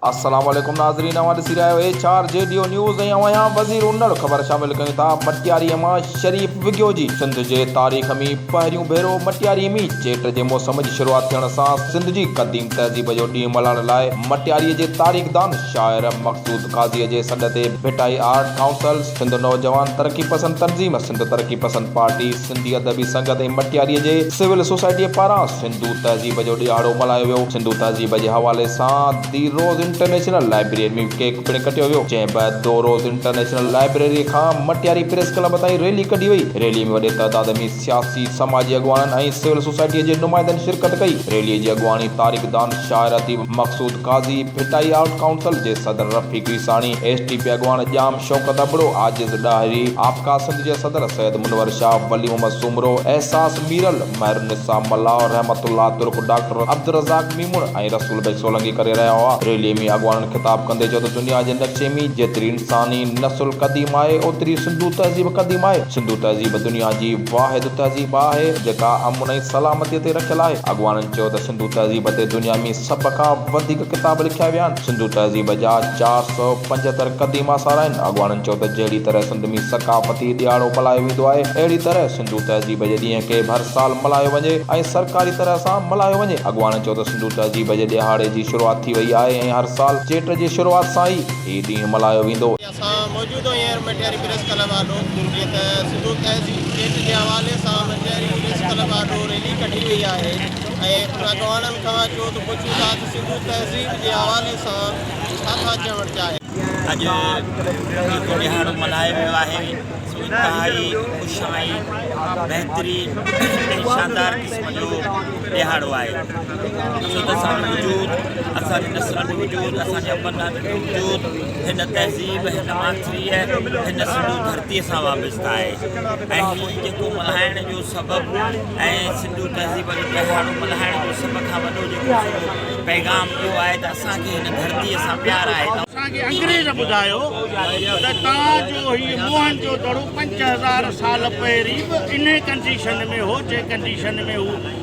السلام عليڪم ناظرين اوهان ڏسي رهيا آهيو ايڇ آر جي ڊيو نيوز ۽ اوهان يا وزير انڙ خبر شامل ڪيون ٿا مٽياري مان شريف وگيو جي سنڌ جي تاريخ مين پهريون ڀيرو مٽياري مين چيٽ جي موسم جي شروعات ٿيڻ سان سنڌ جي قديم تهذيب جو ڏينهن ملهائڻ لاء مٽياري جي تاريخ دان شاعر مقصود قاضي جي سڏ تي ڀٽائي آرٽ ڪائونسل سنڌ نوجوان ترقي پسند تنظيم سنڌ ترقي پسند پارٽي سنڌي ادبي سنگت ۽ مٽياريء جي سول سوسائٽيء پاران سنڌو تهذيب جو ڏيهاڙو ملهايو ويو. سنڌو تهذيب جي حوالي سان the rose international library ۾ cake پڻ ڪٽيو ويو، جنهن بعد دو روز انٽرنيشنل لائبريريء کان مٽياري پريس ڪلب تائين ريلي ڪڍي وئي. ريليء ۾ وڏي تعداد ۾ سياسي، سماجي اڳواڻن ۽ سول سوسائٽيء جي نمائندن شرڪت ڪئي. ريليء جي اڳواڻي تاريخدان، شاعر اديب مقصود قاضي، ڀٽائي آرٽ ڪائونسل جي صدر Rafiq Isani, S T P اڳواڻ ڄام شوڪت ابڙو، عاجز ڏاهري، آپڪا سنڌ جي صدر سيد منور شاهه، ولي محمد سومرو، احساس ميرل، مهرالنساء ملاح، رحمت الله ترڪ، ڊاڪٽر عبدالرزاق ميمڻ ۽ رسول بيگ سولنگي ڪري رهيا هئا. ريلي ۾ اڳواڻن خطاب ڪندي چيو ته دنيا جي نقشي ۾ جيتري انساني نسل قديم آهي اوتري سنڌو تهذيب قديم آهي. سنڌو تهذيب دنيا جي واحد تهذيب آهي جيڪا امن ۽ سلامتي تي رکيل آهي. اڳواڻن چيو ته سنڌو تهذيب تي دنيا ۾ سڀ کان وڌيڪ ڪتاب لکيا ويا آهن. سنڌو تهذيب جا چار سؤ پنجهتر قديم آثار آهن. اڳواڻن چيو ته جهڙي طرح سنڌ ۾ ثقافتي ڏهاڙو ملهايو ويندو آهي، اهڙي طرح سنڌو تهذيب جي ڏينهن کي به هر سال ملهايو وڃي ۽ سرڪاري طرح سان ملهايو وڃي. اڳواڻن چيو ته سنڌو تهذيب جي ڏهاڙي جي شروعات ٿي وئي آهي ۽ هر سال چيٽ جي شروعات سان ئي هي ڏينهن ملهايو ويندو. اسان موجود هينئر مٽياري پريس ڪلب آڏو جيئن ته سنڌو تهذيب چيٽ جي حوالي سان مٽياري پريس ڪلب آڏو ريلي ڪڍي وئي آهي ۽ ان اڳواڻن کان چو ته پڇون ٿا ته سنڌو تهذيب جي حوالي سان ڇا ٿا چوڻ چاهين. اڄ عيد جو ڏهاڙو ملهايو ويو آهي سو انتهائي خوش آهين بهترين ۽ شاندار قسم جو ڏهاڙو آهي سو ته اسان وٽ وجود اسان جي نسلن جو وجود اسان جي ابن ڏاڏن جو وجود هن تهذيب، هن ماٿريء، هن سنڌو ڌرتيء سان وابسته آهي ۽ هي جيڪو ملهائڻ جو سبب ۽ سنڌو تهذيب جو پهاڙو ملهائڻ جو سڀ کان وڏو جيڪو سڄو پيغام اهو آهي ته اسان کي هن ڌرتيء سان پيار آهي. اسان کي انگريز ٻڌايو ته توهان جو هي موهن جو دڙو پنج هزار سال پهرين به انهي ڪنڊيشن ۾ هو جنهن ڪنڊيشن ۾ هو